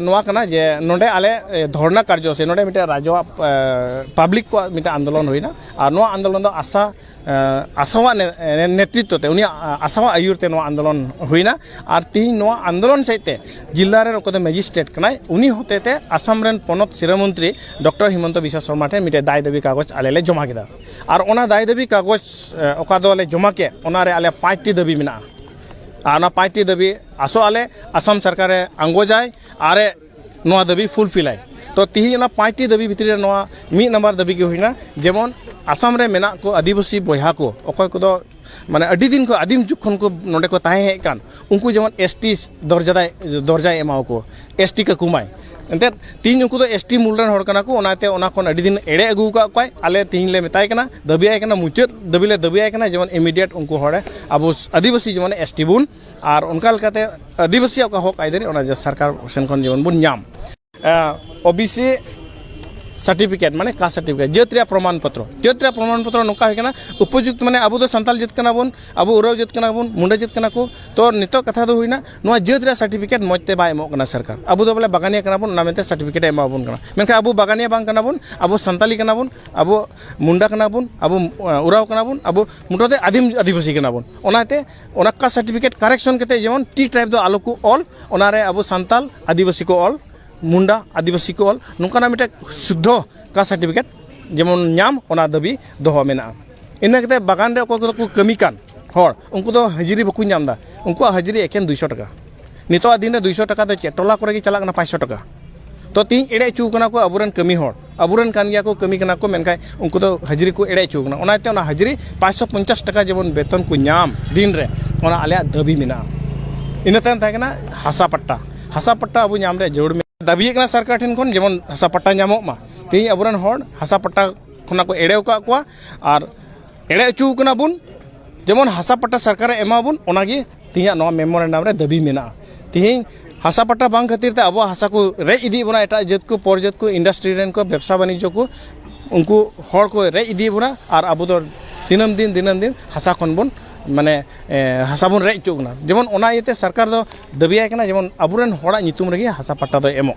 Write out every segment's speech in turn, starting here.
ᱱᱚᱣᱟ ᱠᱟᱱᱟ ᱡᱮ ᱱᱚᱰᱮ ᱟᱞᱮ ᱫᱷᱚᱨᱱᱟ ᱠᱟᱨᱡᱚ ᱥᱮ ᱱᱚᱰᱮ ᱢᱤᱫᱴᱮᱱ ᱨᱟᱡᱽᱣᱟᱜ ᱯᱟᱵᱽᱞᱤᱠ ᱠᱚᱣᱟᱜ ᱢᱤᱫᱴᱮᱱ ᱟᱱᱫᱳᱞᱚᱱ ᱦᱩᱭᱱᱟ ᱟᱨ ᱱᱚᱣᱟ ᱟᱱᱫᱳᱞᱚᱱ ᱫᱚ ᱟᱥᱟ ᱟᱥᱟᱣᱟᱜ ᱱᱮᱛᱨᱤᱛᱛᱚ ᱛᱮ ᱩᱱᱤᱭᱟᱜ ᱟᱥᱟᱣᱟᱜ ᱟᱹᱭᱩᱨ ᱛᱮ ᱱᱚᱣᱟ ᱟᱱᱫᱳᱞᱚᱱ ᱦᱩᱭᱱᱟ ᱟᱨ ᱛᱤᱦᱤᱧ ᱱᱚᱣᱟ ᱟᱱᱫᱳᱞᱚᱱ ᱥᱮᱫ ᱛᱮ ᱡᱤᱞᱟ ᱨᱮᱱ ᱚᱠᱚᱭ ᱫᱚ ᱢᱮᱡᱤᱥᱴᱨᱮᱴ ᱠᱟᱱᱟᱭ ᱩᱱᱤ ᱦᱚᱛᱮ ᱛᱮ ᱟᱥᱟᱢ ᱨᱮᱱ ᱯᱚᱱᱚᱛ ᱥᱤᱨᱟᱹ ᱢᱚᱱᱛᱨᱤ ᱰᱚᱠᱴᱚᱨ ᱦᱤᱢᱚᱱᱛᱚ ᱵᱤᱥᱣᱟ ᱥᱚᱨᱢᱟ ᱴᱷᱮᱱ ᱢᱤᱫᱴᱮᱱ ᱫᱟᱭ ᱫᱟᱹᱵᱤ ᱠᱟᱜᱚᱡᱽ ᱟᱞᱮ ᱞᱮ ᱡᱚᱢᱟ ᱠᱮᱫᱟ ᱟᱨ ᱚᱱᱟ ᱫᱟᱭ ᱫᱟᱹᱵᱤ ᱠᱟᱜᱚᱡᱽ ᱚᱠᱟ ᱫᱚᱞᱮ ᱡᱚᱢᱟ ᱠᱮᱫ ᱚᱱᱟ ᱨᱮ ᱟᱞᱮ ᱯᱟᱸᱪᱴᱤ ᱫᱟᱹᱵᱤ ᱢᱮᱱᱟᱜᱼᱟ ᱟᱨ ᱚᱱᱟ ᱯᱟᱸᱪᱴᱤ ᱫᱟᱹᱵᱤ ᱟᱥᱚᱜ ᱟᱞᱮ ᱟᱥᱟᱢ ᱥᱚᱨᱠᱟᱨᱮ ᱟᱸᱜᱚᱪᱟᱭ ᱟᱨᱮ ᱱᱚᱣᱟ ᱫᱟᱹᱵᱤ ᱯᱷᱩᱞᱯᱷᱤᱞᱟᱭ ᱛᱚ ᱛᱤᱦᱤᱧ ᱚᱱᱟ ᱯᱟᱸᱪᱴᱤ ᱫᱟᱹᱵᱤ ᱵᱷᱤᱛᱨᱤ ᱨᱮ ᱱᱚᱣᱟ ᱢᱤᱫ ᱱᱟᱢᱵᱟᱨ ᱫᱟᱹᱵᱤ ᱜᱮ ᱦᱩᱭᱱᱟ ᱡᱮᱢᱚᱱ ᱟᱥᱟᱢ ᱨᱮ ᱢᱮᱱᱟᱜ ᱠᱚ ᱟᱹᱫᱤᱵᱟᱹᱥᱤ ᱵᱚᱭᱦᱟ ᱠᱚ ᱚᱠᱚᱭ ᱠᱚᱫᱚ ᱢᱟᱱᱮ ᱟᱹᱰᱤ ᱫᱤᱱ ᱠᱷᱚᱱ ᱟᱹᱫᱤᱢ ᱡᱩᱜᱽ ᱠᱷᱚᱱ ᱠᱚ ᱱᱚᱰᱮ ᱠᱚ ᱛᱟᱦᱮᱸ ᱦᱮᱡ ᱠᱟᱱ ᱩᱱᱠᱩ ᱡᱮᱢᱚᱱ ᱮᱥ ᱴᱤ ᱫᱚᱨᱡᱟ ᱫᱚᱨᱡᱟᱭ ᱮᱢᱟᱣ ᱠᱚ ᱮᱥ ᱴᱤ ᱠᱟᱠᱚ ᱢᱟᱭ ᱮᱱᱛᱮᱫ ᱛᱤᱦᱤᱧ ᱩᱱᱠᱩ ᱫᱚ ᱮᱥ ᱴᱤ ᱢᱩᱞ ᱨᱮᱱ ᱦᱚᱲ ᱠᱟᱱᱟ ᱠᱚ ᱚᱱᱟᱛᱮ ᱚᱱᱟ ᱠᱷᱚᱱ ᱟᱹᱰᱤ ᱫᱤᱱ ᱮᱲᱮ ᱟᱹᱜᱩ ᱟᱠᱟᱫ ᱠᱚᱣᱟᱭ ᱟᱞᱮ ᱛᱤᱦᱤᱧ ᱞᱮ ᱢᱮᱛᱟᱭ ᱠᱟᱱᱟ ᱫᱟᱹᱵᱤᱭᱟᱭ ᱠᱟᱱᱟ ᱢᱩᱪᱟᱹᱫ ᱫᱟᱹᱵᱤ ᱞᱮ ᱫᱟᱹᱵᱤᱭᱟᱭ ᱠᱟᱱᱟ ᱡᱮᱢᱚᱱ ᱤᱢᱤᱰᱤᱭᱮᱴ ᱩᱱᱠᱩ ᱦᱚᱲ ᱟᱵᱚ ᱟᱹᱫᱤᱵᱟᱹᱥᱤ ᱡᱮᱢᱚᱱ ᱮᱥ ᱴᱤ ᱵᱚᱱ ᱟᱨ ᱚᱱᱠᱟ ᱞᱮᱠᱟᱛᱮ ᱟᱹᱫᱤᱵᱟᱹᱥᱤᱭᱟᱜ ᱚᱠᱟ ᱦᱚᱸᱠ ᱟᱹᱭᱫᱟᱹᱨᱤ ᱚᱱᱟ ᱥᱚᱨᱠᱟᱨ ᱥᱮᱱ ᱠᱷᱚᱱ ᱡᱮᱢᱚᱱ ᱵᱚᱱ ᱧᱟᱢ ᱳ ᱵᱤ ᱥᱤ ᱥᱟᱨᱴᱤᱯᱷᱤᱠᱮᱴ ᱢᱟᱱᱮ ᱠᱟ ᱥᱟᱨᱴᱤᱯᱷᱤᱠᱮᱴ ᱡᱟᱹᱛ ᱨᱮᱭᱟᱜ ᱯᱨᱚᱢᱟᱱ ᱯᱚᱛᱨᱚ ᱡᱟᱹᱛ ᱨᱮᱭᱟᱜ ᱯᱨᱚᱢᱟᱱ ᱯᱚᱛᱨᱚ ᱱᱚᱝᱠᱟ ᱦᱩᱭ ᱠᱟᱱᱟ ᱩᱯᱚᱡᱩᱠᱛ ᱢᱟᱱᱮ ᱟᱵᱚ ᱫᱚ ᱥᱟᱱᱛᱟᱞ ᱡᱟᱹᱛ ᱠᱟᱱᱟ ᱵᱚᱱ ᱟᱵᱚ ᱩᱨᱟᱹᱣ ᱡᱟᱹᱛ ᱠᱟᱱᱟ ᱵᱚᱱ ᱢᱩᱸᱰᱟᱹ ᱡᱟᱹᱛ ᱠᱟᱱᱟ ᱠᱚ ᱛᱚ ᱱᱤᱛᱚᱜ ᱠᱟᱛᱷᱟ ᱫᱚ ᱦᱩᱭᱱᱟ ᱱᱚᱣᱟ ᱡᱟᱹᱛ ᱨᱮᱭᱟᱜ ᱥᱟᱨᱴᱤᱯᱷᱤᱠᱮᱴ ᱢᱚᱡᱽ ᱛᱮ ᱵᱟᱭ ᱮᱢᱚᱜ ᱠᱟᱱᱟ ᱥᱚᱨᱠᱟᱨ ᱟᱵᱚ ᱫᱚ ᱵᱚᱞᱮ ᱵᱟᱜᱟᱱᱤᱭᱟᱹ ᱠᱟᱱᱟ ᱵᱚᱱ ᱚᱱᱟ ᱢᱮᱱᱛᱮ ᱥᱟᱨᱴᱤᱯᱷᱤᱠᱮᱴ ᱮ ᱮᱢᱟ ᱵᱚᱱ ᱠᱟᱱᱟ ᱢᱮᱱᱠᱷᱟᱱ ᱟᱵᱚ ᱵᱟᱜᱟᱱᱤᱭᱟᱹ ᱵᱟᱝ ᱠᱟᱱᱟ ᱵᱚᱱ ᱟᱵᱚ ᱥᱟᱱᱛᱟᱲᱤ ᱠᱟᱱᱟ ᱵᱚᱱ ᱟᱵᱚ ᱢᱩᱱᱰᱟ ᱠᱟᱱᱟ ᱵᱚᱱ ᱟᱵᱚ ᱳᱨᱟᱣ ᱠᱟᱱᱟ ᱵᱚᱱ ᱟᱵᱚ ᱢᱚᱴᱟᱢᱩᱴᱤ ᱟᱹᱫᱤᱢ ᱟᱹᱫᱤᱵᱟᱹᱥᱤ ᱠᱟᱱᱟ ᱵᱚᱱ ᱚᱱᱟᱛᱮ ᱚᱱᱟ ᱠᱟ ᱥᱟᱨᱴᱤᱯᱷᱤᱠᱮᱴ ᱠᱟᱨᱮᱠᱥᱚᱱ ᱠᱟᱛᱮ ᱡᱮᱢᱚᱱ ᱴᱤ ᱴᱨᱟᱭᱤᱵᱽ ᱫᱚ ᱟᱞᱚ ᱠᱚ ᱚᱞ ᱚᱱᱟ ᱨᱮ ᱟᱵᱚ ᱥᱟᱱᱛᱟᱲ ᱟᱹᱫᱤᱵᱟᱹᱥᱤ ᱠᱚ ᱚᱞ ᱢᱩᱱᱰᱟ ᱟᱹᱫᱤᱵᱟᱹᱥᱤ ᱠᱚ ᱚᱞ ᱱᱚᱝᱠᱟᱱᱟᱜ ᱢᱤᱫᱴᱮᱱ ᱥᱩᱫᱽᱫᱷᱚ ᱠᱟᱥᱴ ᱥᱟᱨᱴᱤᱯᱷᱤᱠᱮᱴ ᱡᱮᱢᱚᱱ ᱧᱟᱢ ᱚᱱᱟ ᱫᱟᱹᱵᱤ ᱫᱚᱦᱚ ᱢᱮᱱᱟᱜᱼᱟ ᱤᱱᱟᱹ ᱠᱟᱛᱮ ᱵᱟᱜᱟᱱ ᱨᱮ ᱚᱠᱚᱭ ᱠᱚᱫᱚ ᱠᱚ ᱠᱟᱹᱢᱤ ᱠᱟᱱ ᱦᱚᱲ ᱩᱱᱠᱩ ᱫᱚ ᱦᱟᱹᱡᱽᱨᱤ ᱵᱟᱠᱚ ᱧᱟᱢ ᱮᱫᱟ ᱩᱱᱠᱩᱣᱟᱜ ᱦᱟᱹᱡᱽᱨᱤ ᱮᱠᱮᱱ ᱫᱩᱭᱥᱚ ᱴᱟᱠᱟ ᱱᱤᱛᱚᱜ ᱫᱤᱱ ᱨᱮ ᱫᱩᱭᱥᱚ ᱴᱟᱠᱟ ᱫᱚ ᱪᱮᱫ ᱴᱚᱞᱟ ᱠᱚᱨᱮᱜᱮ ᱪᱟᱞᱟᱜ ᱠᱟᱱᱟ ᱯᱟᱸᱪᱥᱚ ᱴᱟᱠᱟ ᱛᱚ ᱛᱮᱦᱮᱧ ᱮᱲᱮ ᱦᱚᱪᱚ ᱠᱟᱱᱟ ᱠᱚ ᱟᱵᱚᱨᱮᱱ ᱠᱟᱹᱢᱤ ᱦᱚᱲ ᱟᱵᱚᱨᱮᱱ ᱠᱟᱱ ᱜᱮᱭᱟ ᱠᱚ ᱠᱟᱹᱢᱤ ᱠᱟᱱᱟ ᱠᱚ ᱢᱮᱱᱠᱷᱟᱡ ᱩᱱᱠᱩ ᱫᱚ ᱦᱟᱹᱡᱽᱨᱤ ᱠᱚ ᱮᱲᱮ ᱦᱚᱪᱚ ᱠᱟᱱᱟ ᱚᱱᱟᱛᱮ ᱚᱱᱟ ᱦᱟᱹᱡᱽᱨᱤ ᱯᱟᱸᱪᱥᱚ ᱯᱚᱧᱪᱟᱥ ᱴᱟᱠᱟ ᱡᱮᱢᱚᱱ ᱵᱮᱛᱚᱱ ᱠᱚ ᱧᱟᱢ ᱫᱤᱱ ᱨᱮ ᱚᱱᱟ ᱟᱞᱮᱭᱟᱜ ᱫᱟᱹᱵᱤ ᱢᱮᱱᱟᱜᱼᱟ ᱤᱱᱟᱹ ᱛᱟᱭᱚᱢ ᱛᱟᱦᱮᱸ ᱠᱟᱱᱟ ᱦᱟᱥᱟ ᱯᱟᱴᱴᱟ ᱦᱟᱥᱟ ᱯᱟᱴᱴᱟ ᱟᱵᱚ ᱧᱟᱢ ᱨᱮᱭᱟᱜ ᱡᱟᱹᱨᱩᱲ ᱢᱮᱱᱟᱜᱼᱟ ᱫᱟᱹᱵᱤᱭᱮᱜ ᱠᱟᱱᱟ ᱥᱚᱨᱠᱟᱨ ᱴᱷᱮᱱ ᱠᱷᱚᱱ ᱡᱮᱢᱚᱱ ᱦᱟᱥᱟ ᱯᱟᱴᱴᱟ ᱧᱟᱢᱚᱜ ᱢᱟ ᱛᱮᱦᱮᱧ ᱟᱵᱚᱨᱮᱱ ᱦᱚᱲ ᱦᱟᱥᱟ ᱯᱟᱴᱴᱟ ᱠᱷᱚᱱᱟᱜ ᱠᱚ ᱮᱲᱮ ᱠᱟᱜ ᱠᱚᱣᱟ ᱟᱨ ᱮᱲᱮ ᱦᱚᱪᱚ ᱠᱟᱱᱟ ᱵᱚᱱ ᱡᱮᱢᱚᱱ ᱦᱟᱥᱟ ᱯᱟᱴᱟ ᱥᱚᱨᱠᱟᱨᱮ ᱮᱢᱟ ᱵᱚᱱ ᱚᱱᱟᱜᱮ ᱛᱮᱦᱮᱧᱟᱜ ᱱᱚᱣᱟ ᱢᱮᱢᱳᱨᱮᱱᱰᱟᱢ ᱨᱮ ᱫᱟᱹᱵᱤ ᱢᱮᱱᱟᱜᱼᱟ ᱛᱮᱦᱮᱧ ᱦᱟᱥᱟ ᱯᱟᱴᱟ ᱵᱟᱝ ᱠᱷᱟᱹᱛᱤᱨ ᱛᱮ ᱟᱵᱚᱣᱟᱜ ᱦᱟᱥᱟ ᱠᱚ ᱨᱮᱡ ᱤᱫᱤᱭᱮᱜ ᱵᱚᱱᱟ ᱮᱴᱟᱜ ᱡᱟᱹᱛ ᱠᱚ ᱯᱚᱨ ᱡᱟᱹᱛ ᱠᱚ ᱤᱱᱰᱟᱥᱴᱨᱤ ᱨᱮᱱ ᱠᱚ ᱵᱮᱵᱽᱥᱟ ᱵᱟᱱᱤᱡᱡᱚ ᱠᱚ ᱩᱱᱠᱩ ᱦᱚᱲ ᱠᱚ ᱨᱮᱡ ᱤᱫᱤᱭᱮᱜ ᱵᱚᱱᱟ ᱟᱨ ᱟᱵᱚ ᱫᱚ ᱫᱤᱱᱟᱹᱢ ᱫᱤᱱ ᱫᱤᱱᱟᱹᱢ ᱫᱤᱱ ᱦᱟᱥᱟ ᱠᱷᱚᱱ ᱵᱚᱱ ᱢᱟᱱᱮ ᱦᱟᱥᱟ ᱵᱚᱱ ᱨᱮᱡ ᱦᱚᱪᱚᱜ ᱠᱟᱱᱟ ᱡᱮᱢᱚᱱ ᱚᱱᱟ ᱤᱭᱟᱹᱛᱮ ᱥᱚᱨᱠᱟᱨ ᱫᱚ ᱫᱟᱹᱵᱤᱭᱟᱭ ᱠᱟᱱᱟ ᱡᱮᱢᱚᱱ ᱟᱵᱚ ᱨᱮᱱ ᱦᱚᱲᱟᱜ ᱧᱩᱛᱩᱢ ᱨᱮᱜᱮ ᱦᱟᱥᱟ ᱯᱟᱴᱟ ᱫᱚᱭ ᱮᱢᱚᱜ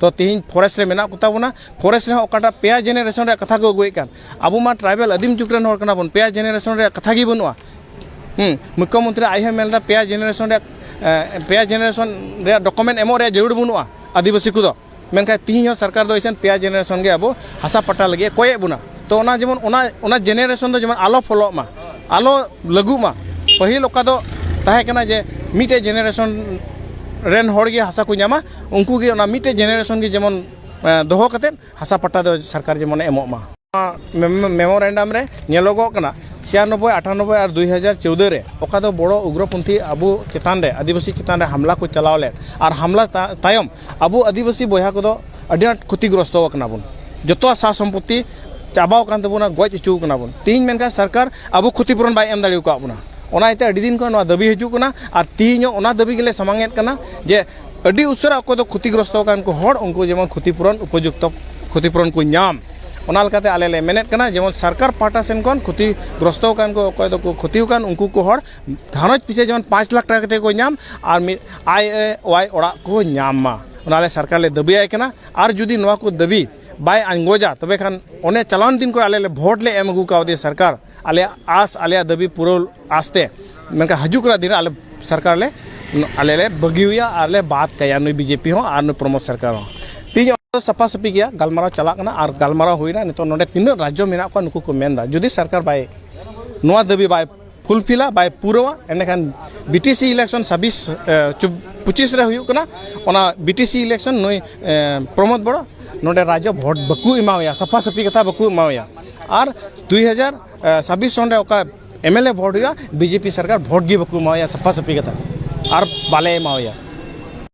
ᱛᱚ ᱛᱮᱦᱮᱧ ᱯᱷᱚᱨᱮᱥᱴ ᱨᱮ ᱢᱮᱱᱟᱜ ᱠᱚᱛᱟ ᱵᱚᱱᱟ ᱯᱷᱚᱨᱮᱥᱴ ᱨᱮᱦᱚᱸ ᱚᱠᱟᱴᱟᱜ ᱯᱮᱭᱟ ᱡᱮᱱᱟᱨᱮᱥᱚᱱ ᱨᱮᱭᱟᱜ ᱠᱟᱛᱷᱟ ᱠᱚ ᱟᱹᱜᱩᱭᱮᱫ ᱠᱟᱱ ᱟᱵᱚ ᱢᱟ ᱴᱨᱟᱭᱵᱮᱞ ᱟᱹᱫᱤᱢ ᱡᱩᱜᱽ ᱨᱮᱱ ᱦᱚᱲ ᱠᱟᱱᱟ ᱵᱚᱱ ᱯᱮᱭᱟ ᱡᱮᱱᱟᱨᱮᱥᱚᱱ ᱨᱮᱭᱟᱜ ᱠᱟᱛᱷᱟ ᱜᱮ ᱵᱟᱹᱱᱩᱜᱼᱟ ᱦᱮᱸ ᱢᱩᱠᱠᱷᱚ ᱢᱚᱱᱛᱨᱤ ᱟᱡ ᱦᱚᱸᱭ ᱢᱮᱱᱫᱟ ᱯᱮᱭᱟ ᱡᱮᱱᱟᱨᱮᱥᱚᱱ ᱨᱮᱭᱟᱜ ᱯᱮᱭᱟ ᱡᱮᱱᱟᱨᱮᱥᱚᱱ ᱨᱮᱭᱟᱜ ᱰᱚᱠᱩᱢᱮᱱᱴ ᱮᱢᱚᱜ ᱨᱮᱭᱟᱜ ᱡᱟᱹᱨᱩᱲ ᱵᱟᱹᱱᱩᱜᱼᱟ ᱟᱹᱫᱤᱵᱟᱹᱥᱤ ᱠᱚᱫᱚ ᱢᱮᱱᱠᱷᱟᱱ ᱛᱮᱦᱮᱧ ᱦᱚᱸ ᱥᱚᱨᱠᱟᱨ ᱫᱚ ᱮᱠᱷᱮᱱ ᱯᱮᱭᱟ ᱡᱮᱱᱟᱨᱮᱥᱚᱱ ᱜᱮ ᱟᱵᱚ ᱦᱟᱥᱟ ᱯᱟᱴᱟ ᱞᱟᱹᱜᱤᱫ ᱠᱚᱭᱮᱫ ᱵᱚᱱᱟ ᱛᱚ ᱚᱱᱟ ᱡᱮᱢᱚᱱ ᱚᱱᱟ ᱚᱱᱟ ᱡᱮᱱᱟᱨᱮᱥᱚᱱ ᱫᱚ ᱡᱮᱢᱚᱱ ᱟᱞᱚ ᱯᱷᱚᱞᱚᱜ ᱢᱟ ᱟᱞᱚ ᱞᱟᱹᱜᱩᱜ ᱢᱟ ᱯᱟᱹᱦᱤᱞ ᱚᱠᱟ ᱫᱚ ᱛᱟᱦᱮᱸ ᱠᱟᱱᱟ ᱡᱮ ᱢᱤᱫᱴᱮᱡ ᱡᱮᱱᱟᱨᱮᱥᱚᱱ ᱨᱮᱱ ᱦᱚᱲ ᱜᱮ ᱦᱟᱥᱟ ᱠᱚ ᱧᱟᱢᱟ ᱩᱱᱠᱩ ᱜᱮ ᱚᱱᱟ ᱢᱤᱫᱴᱮᱡ ᱡᱮᱱᱟᱨᱮᱥᱚᱱ ᱜᱮ ᱡᱮᱢᱚᱱ ᱫᱚᱦᱚ ᱠᱟᱛᱮ ᱦᱟᱥᱟ ᱯᱟᱴᱟ ᱫᱚ ᱥᱚᱨᱠᱟᱨ ᱡᱮᱢᱚᱱ ᱮᱢᱚᱜ ᱢᱟ ᱢᱮᱢᱳᱨᱮᱱᱰᱟᱢ ᱨᱮ ᱧᱮᱞᱚᱜᱚᱜ ᱠᱟᱱᱟ ᱪᱷᱤᱭᱟᱱᱚᱵᱵᱳᱭ ᱟᱴᱷᱟᱱᱚᱵᱵᱳᱭ ᱟᱨ ᱫᱩᱭ ᱦᱟᱡᱟᱨ ᱪᱳᱫᱳ ᱨᱮ ᱚᱠᱟ ᱫᱚ ᱵᱚᱲᱚ ᱩᱜᱽᱨᱚᱯᱚᱱᱛᱷᱤ ᱟᱵᱚ ᱪᱮᱛᱟᱱ ᱨᱮ ᱟᱹᱫᱤᱵᱟᱹᱥᱤ ᱪᱮᱛᱟᱱ ᱨᱮ ᱦᱟᱢᱞᱟ ᱠᱚ ᱪᱟᱞᱟᱣ ᱞᱮᱫ ᱟᱨ ᱦᱟᱢᱞᱟ ᱛᱟᱭᱚᱢ ᱟᱵᱚ ᱟᱹᱫᱤᱵᱟᱹᱥᱤ ᱵᱚᱭᱦᱟ ᱠᱚᱫᱚ ᱟᱹᱰᱤ ᱟᱸᱴ ᱠᱷᱚᱛᱤᱜᱨᱚᱥᱛᱚ ᱟᱠᱟᱱᱟ ᱵᱚᱱ ᱡᱚᱛᱚᱣᱟᱜ ᱥᱟ ᱥᱚᱢᱯᱚᱛᱛᱤ ᱪᱟᱵᱟᱣ ᱟᱠᱟᱱ ᱛᱟᱵᱚᱱᱟ ᱜᱚᱡ ᱦᱚᱪᱚ ᱟᱠᱟᱱᱟ ᱵᱚᱱ ᱛᱮᱦᱮᱧ ᱢᱮᱱᱠᱷᱟᱱ ᱥᱚᱨᱠᱟᱨ ᱟᱵᱚ ᱠᱷᱚᱛᱤᱯᱩᱨᱚᱱ ᱵᱟᱭ ᱮᱢ ᱫᱟᱲᱮ ᱟᱠᱟᱫ ᱵᱚᱱᱟ ᱚᱱᱟ ᱤᱭᱟᱹᱛᱮ ᱟᱹᱰᱤ ᱫᱤᱱ ᱠᱷᱚᱱ ᱱᱚᱣᱟ ᱫᱟᱹᱵᱤ ᱦᱤᱡᱩᱜ ᱠᱟᱱᱟ ᱟᱨ ᱛᱮᱦᱮᱧ ᱦᱚᱸ ᱚᱱᱟ ᱫᱟᱹᱵᱤ ᱜᱮᱞᱮ ᱥᱟᱢᱟᱝ ᱮᱫ ᱠᱟᱱᱟ ᱡᱮ ᱟᱹᱰᱤ ᱩᱥᱟᱹᱨᱟ ᱚᱠᱚᱭ ᱫᱚ ᱠᱷᱚᱛᱤᱜᱨᱚᱥᱛᱚ ᱟᱠᱟᱱ ᱠᱚ ᱦᱚᱲ ᱩᱱᱠᱩ ᱡᱮᱢᱚᱱ ᱠᱷᱚᱛᱤᱯᱩᱨᱚᱱ ᱩᱯᱚᱡᱩᱠᱛᱚ ᱠᱷᱚᱛᱤᱯᱩᱨᱚᱱ ᱠᱚ ᱧᱟᱢ ᱚᱱᱟ ᱞᱮᱠᱟᱛᱮ ᱟᱞᱮ ᱞᱮ ᱢᱮᱱᱮᱫ ᱠᱟᱱᱟ ᱡᱮᱢᱚᱱ ᱥᱚᱨᱠᱟᱨ ᱯᱟᱦᱴᱟ ᱥᱮᱱ ᱠᱷᱚᱱ ᱠᱷᱚᱛᱤᱜᱨᱚᱥᱛᱚ ᱟᱠᱟᱱ ᱠᱚ ᱚᱠᱚᱭ ᱫᱚᱠᱚ ᱠᱷᱚᱛᱤ ᱟᱠᱟᱱ ᱩᱱᱠᱩ ᱠᱚ ᱦᱚᱲ ᱜᱷᱟᱨᱚᱸᱡᱽ ᱯᱤᱪᱷᱤ ᱡᱮᱢᱚᱱ ᱯᱟᱸᱪ ᱞᱟᱠᱷ ᱴᱟᱠᱟ ᱠᱟᱛᱮᱫ ᱠᱚ ᱧᱟᱢ ᱟᱨ ᱢᱤᱫ ᱟᱭ ᱮ ᱚᱣᱟᱭ ᱚᱲᱟᱜ ᱠᱚ ᱧᱟᱢ ᱢᱟ ᱚᱱᱟ ᱞᱮ ᱥᱚᱨᱠᱟᱨ ᱞᱮ ᱫᱟᱹᱵᱤ ᱟᱭ ᱠᱟᱱᱟ ᱟᱨ ᱡᱩᱫᱤ ᱱᱚᱣᱟ ᱠᱚ ᱫᱟᱹᱵᱤ ᱵᱟᱭ ᱟᱸᱜᱚᱡᱟ ᱛᱚᱵᱮ ᱠᱷᱟᱱ ᱚᱱᱮ ᱪᱟᱞᱟᱣᱮᱱ ᱫᱤᱱ ᱠᱚᱨᱮ ᱟᱞᱮ ᱞᱮ ᱵᱷᱳᱴ ᱞᱮ ᱮᱢ ᱟᱹᱜᱩ ᱠᱟᱣᱫᱮᱭᱟ ᱥᱚᱨᱠᱟᱨ ᱟᱞᱮ ᱟᱥ ᱟᱞᱮ ᱫᱟᱹᱵᱤ ᱯᱩᱨᱟᱹᱣ ᱟᱥᱛᱮ ᱢᱮᱱᱠᱷᱟᱱ ᱦᱤᱡᱩᱜ ᱠᱟᱱᱟ ᱫᱤᱱ ᱟᱞᱮ ᱥᱚᱨᱠᱟᱨ ᱞᱮ ᱟᱞᱮ ᱞᱮ ᱵᱟᱹᱜᱤᱭᱟ ᱟᱨ ᱞᱮ ᱵᱟᱫ ᱠᱟᱭᱟ ᱱᱩᱭ ᱵᱤᱡᱮᱯᱤ ᱦᱚᱸ ᱟᱨ ᱱᱩᱭ ᱯᱨᱚᱢᱳᱫ ᱥᱚᱨᱠᱟᱨ ᱦᱚᱸ ᱛᱮᱦᱮᱧ ᱚᱱᱟ ᱥᱟᱯᱷᱟ ᱥᱟᱹᱯᱷᱤ ᱜᱮᱭᱟ ᱜᱟᱞᱢᱟᱨᱟᱣ ᱪᱟᱞᱟᱜ ᱠᱟᱱᱟ ᱟᱨ ᱜᱟᱞᱢᱟᱨᱟᱣ ᱦᱩᱭᱱᱟ ᱱᱤᱛᱚᱜ ᱱᱚᱰᱮ ᱛᱤᱱᱟᱹᱜ ᱨᱟᱡᱽᱡᱚ ᱢᱮᱱᱟᱜ ᱠᱚᱣᱟ ᱱᱩᱠᱩ ᱠᱚ ᱢᱮᱱᱫᱟ ᱡᱩᱫᱤ ᱥᱚᱨᱠᱟᱨ ᱵᱟᱭ ᱱᱚᱣᱟ ᱫᱟᱹᱵᱤ ᱵᱟᱭ ᱯᱷᱩᱞᱯᱷᱤᱞᱟ ᱵᱟᱭ ᱯᱩᱨᱟᱹᱣᱟ ᱮᱸᱰᱮᱠᱷᱟᱱ ᱵᱤᱴᱤᱥᱤ ᱤᱞᱮᱠᱥᱚᱱ ᱪᱷᱟᱵᱵᱤᱥ ᱯᱚᱸᱪᱤᱥ ᱨᱮ ᱦᱩᱭᱩᱜ ᱠᱟᱱᱟ ᱚᱱᱟ ᱵᱤᱴᱤᱥᱤ ᱤᱞᱮᱠᱥᱚᱱ ᱱᱩᱭ ᱯᱨᱚᱢᱳᱫ ᱵᱚᱲᱚ ᱱᱚᱰᱮ ᱨᱟᱡᱽᱡᱚ ᱵᱷᱳᱴ ᱵᱟᱠᱚ ᱮᱢᱟᱣᱟᱭᱟ ᱥᱟᱯᱷᱟ ᱥᱟᱹᱯᱷᱤ ᱠᱟᱛᱷᱟ ᱵᱟᱠᱚ ᱮᱢᱟᱣᱟᱭᱟ ᱟᱨ ᱫᱩᱭ ᱦᱟᱡᱟᱨ ᱪᱷᱟᱵᱵᱤᱥ ᱥᱚᱱ ᱨᱮ ᱚᱠᱟ ᱮᱢ ᱮᱞ ᱮ ᱵᱷᱳᱴ ᱦᱩᱭᱩᱜᱼᱟ ᱵᱤᱡᱮᱯᱤ ᱥᱚᱨᱠᱟᱨ ᱵᱷᱳᱴ ᱜᱮ ᱵᱟᱠᱚ ᱮᱢᱟᱣᱟᱭᱟ ᱥᱟᱯᱷᱟ ᱥᱟᱹᱯᱷᱤ ᱠᱟᱛᱷᱟ ᱟᱨ ᱵᱟᱞᱮ ᱮᱢᱟᱣᱟᱭᱟ